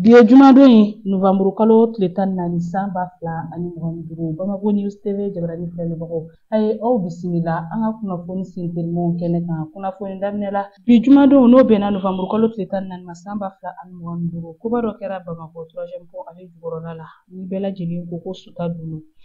Bi ye jumadon ye novanburu kalo tile tan ni naani san ba fila ani mugan ni duuru Bamako News TV jabarani filɛlibagaw a ye aw bisimila an ka kunnafoni sentelimanw kɛnɛ kan kunnafoni daminɛ la bi jumadon n'o bɛnna novanburu kalo tile tan ni naani ma san ba fila ani mugan ni duuru koba dɔ kɛra Bamako troisième pont ale jukɔrɔla la ni bɛɛ lajɛlen ko ko Sutadunu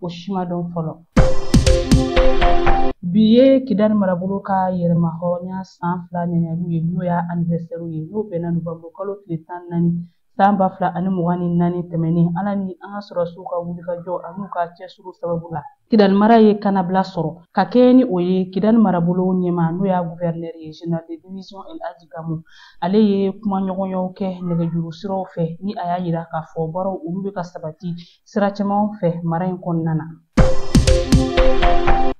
o si ma dɔn fɔlɔ bi ye kidali marabolo ka yɛrɛmahɔrɔnya san fila ɲɛɲɛliw ye n'o y'a anivɛsɛriw ye n'o bɛnna novanburu kalo tile tan naani san ba fila ani mugan ni naani tɛmɛnen ala ni an ka sɔrɔsiw ka wulikajɔ an'u ka cɛsiri sababu la kidali mara ye kanabila sɔrɔ ka kɛɲɛ ni o ye kidali marabolo ɲɛmaa n'o y'a guvɛrinɛri ye général de division el aji gamu ale ye kumaɲɔgɔnyaw kɛ nɛgɛjuru siraw fɛ ni a y'a yira k'a fɔ baaraw olu bɛ ka sabati sira caman fɛ mara in kɔnɔna na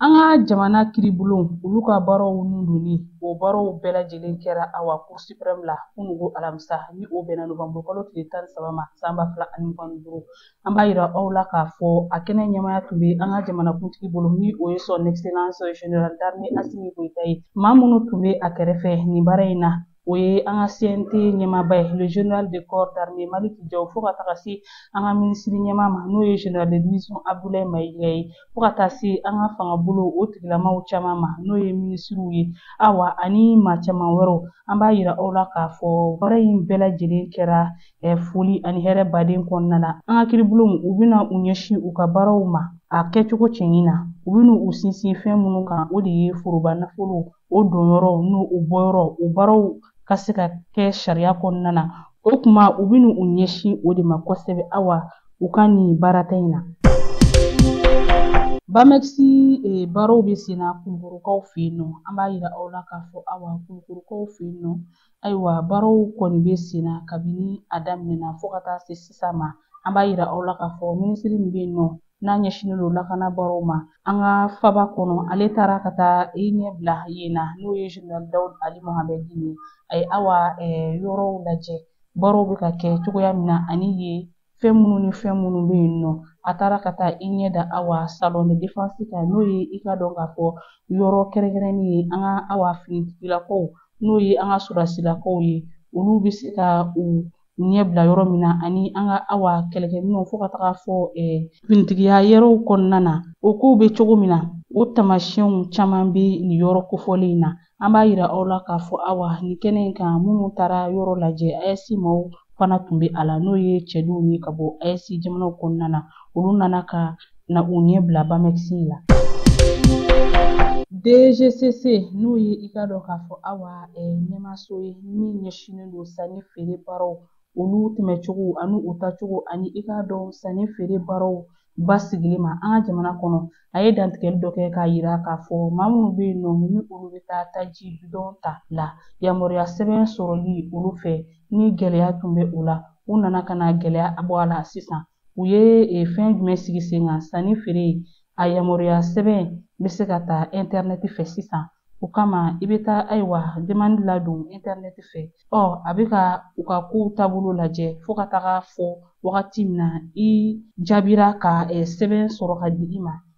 an ka jamana kiribulon olu ka baaraw nundonni o baaraw bɛɛ lajɛlen kɛra awa cour suprême la kunugo alamisa ni o bɛnna novanburu kalo tile tan ni saba ma san ba fila ani mugan ni duuru an b'a yira aw la k'a fɔ a kɛnɛ ɲɛmaaya tun bɛ an ka jamanakuntigi bolo ni o ye son excellence général d'armée asimi goyita ye maa minnu tun bɛ a kɛrɛfɛ nin baara in na o ye an ka CNT ɲɛmaaba ye le général de corps d'armée Maliki Jaw fo ka taga se an ka minisiri ɲɛmaa ma n'o ye général de division Abdoulaye Mayiga ye fo ka taa se an ka fangabolo o tigilamaw caman ma n'o ye minisiriw ye awa ani maa caman wɛrɛw an b'a yira aw la k'a fɔ baara in bɛɛ lajɛlen kɛra eh, foli ani hɛrɛba de kɔnɔna na an ka kiribulonw u bɛna u ɲɛsin u ka baaraw ma a kɛcogo cɛɲi na u bɛna u sinsin fɛn minnu kan o de ye foroba nafolo o donyɔrɔ n'o bɔyɔrɔ o baaraw ka se ka kɛ sariya kɔnɔna na o tuma u bɛna u ɲɛsin o de ma kosɛbɛ awa u ka nin baarata in na BAMEX eh, baaraw bɛ sen na kulukɔrɔkaw fɛ yen nɔ an b'a yira aw la k'a fɔ awa kulukɔrɔkaw fɛ yen nɔ ayiwa baaraw kɔni bɛ sen na kabini a daminɛna fo ka taa se sisan ma an b'a yira aw la k'a fɔ minisiri min bɛ yen nɔ n'a ɲɛsinnen don lakana baaraw ma an ka faba kɔnɔ ale taara ka taa i ɲɛ bila yen na n'o ye général dawud ali mohamɛdi ye a ye awa yɔrɔw lajɛ baaraw bɛ ka kɛ cogoya min na ani ye fɛn minnu ni fɛn minnu bɛ yen nɔ a taara ka taa i ɲɛ da awa salon de défense kan n'o ye i k'a dɔn k'a fɔ yɔrɔ kɛrɛnkɛrɛnnen ye an ka awa finitigilakaw n'o ye an ka sɔrɔdasilakaw ye olu bɛ se ka u ɲɛ bila yɔrɔ min na ani an ka awa kɛlɛkɛminɛnw fo ka taga a fɔ finitigiya yɛrɛw kɔnɔna na o kow bɛ cogo min na o taamasiyɛnw caman bɛ nin yɔrɔ kofɔlen in na an b'a yira aw la k'a fɔ awa nin kɛnɛ in kan minnu taara yɔrɔ lajɛ AES maaw fana tun bɛ a la n'o ye cidenw ye ka bɔ AES jamanaw kɔnɔna na olu nana ka na u ɲɛ bila bamɛkisi la DGCC n'o ye i k'a dɔn k'a fɔ awa ɲɛmaso ye min ɲɛsinnen don sanni feere baaraw olu tɛmɛcogo ani u tacogo ani i k'a dɔn sanni feere baaraw basigili ma an ka jamana kɔnɔ a ye dantigɛli dɔ kɛ k'a yira k'a fɔ maa minnu bɛ yen nɔ ni olu bɛ taa taji bidɔn ta la yamaruya sɛbɛn sɔrɔli olu fɛ ni gɛlɛya tun bɛ o la u nana ka na gɛlɛya bɔ a la sisan u ye e, fɛn jumɛn sigi sen kan sanni feere a yamaruya sɛbɛn bɛ se ka ta intɛrɛnɛti fɛ sisan o kama i bɛ taa ayiwa demandi ladon intɛrɛnɛti fɛ ɔ a bɛ ka u ka kow taabolo lajɛ fo ka taga fɔ wagati min na i jaabira ka e, sɛbɛn sɔrɔ ka di i ma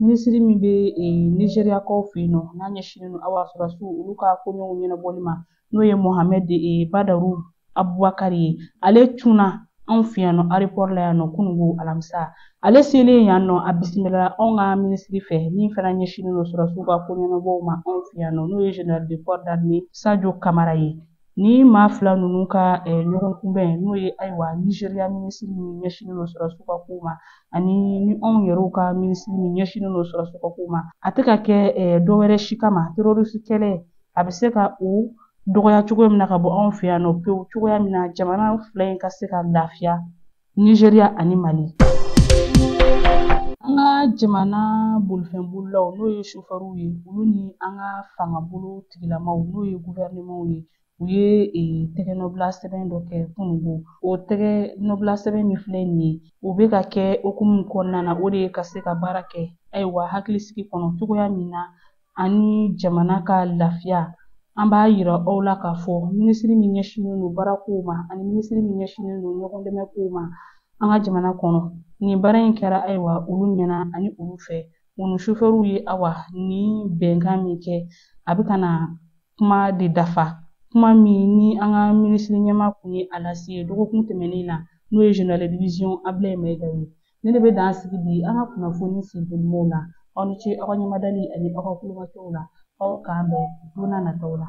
Minisiri min bɛ Nizeriyakaw fɛ yen nɔ n'a ɲɛsinnen don awa sɔrɔdasiw olu ka koɲɛw ɲɛnabɔli ma n'o ye Mohamed Badaru Abubakari ye ale cunna anw fɛ yan nɔ arepɔri la yan nɔ kunungo alamisa ale selen yan nɔ a bisimilala anw ka minisiri fɛ min fana ɲɛsinnen don sɔrɔdasiw ka koɲɛnabɔw ma anw fɛ yan nɔ n'o ye General de corps d'armée Sadio Kamara ye Ni maa fila ninnu ka ɲɔgɔn kunbɛn n'o ye ayiwa Nizeriya minisiri min ɲɛsinnen don sɔrɔdasiw ka kow ma ani ni anw yɛrɛw ka minisiri min ɲɛsinnen don sɔrɔdasiw ka kow ma a tɛ ka kɛ dɔ wɛrɛ si kama terorisi kɛlɛ a bɛ se ka o dɔgɔya cogoya min na ka bɔ anw fɛ yan nɔ pewu cogoya min na jamana fila in ka se ka lafiya Nizeriya ani Mali. An ka jamana bolifɛnbolilaw n'o ye sofɛriw ye olu ni an ka fangabolo tigilamaw n'o ye gufɛrɛnemanw ye u ye e, tɛgɛnɔbila sɛbɛn dɔ kɛ kunungo o tɛgɛnɔbila sɛbɛn min filɛ nin ye o bɛ ka kɛ hukumu kɔnɔna na o de ye ka se ka baara kɛ ayiwa hakilisigi kɔnɔ cogoya min na ani jamana ka lafiya an b'a yira aw la k'a fɔ minisiri min ɲɛsinnen don baara kow ma ani minisiri min ɲɛsinnen don ɲɔgɔn dɛmɛ kow ma an ka jamana kɔnɔ nin baara in kɛra ayiwa olu ɲɛ na ani olu fɛ u ni sofɛriw ye awa nin bɛnkan min kɛ a bɛ ka na kuma de dafa kuma min ni an ka minisiri ɲɛma kun ye a lase dɔgɔkun tɛmɛnen na n'o ye General de division Abulayi Mayiga ye Nin de bɛ dan sigi bi an ka kunnafoni sen telimanw la aw ni ce aw ka ɲɛmadali ani aw ka kulomajɔw la aw k'an bɛn don n'a nataw la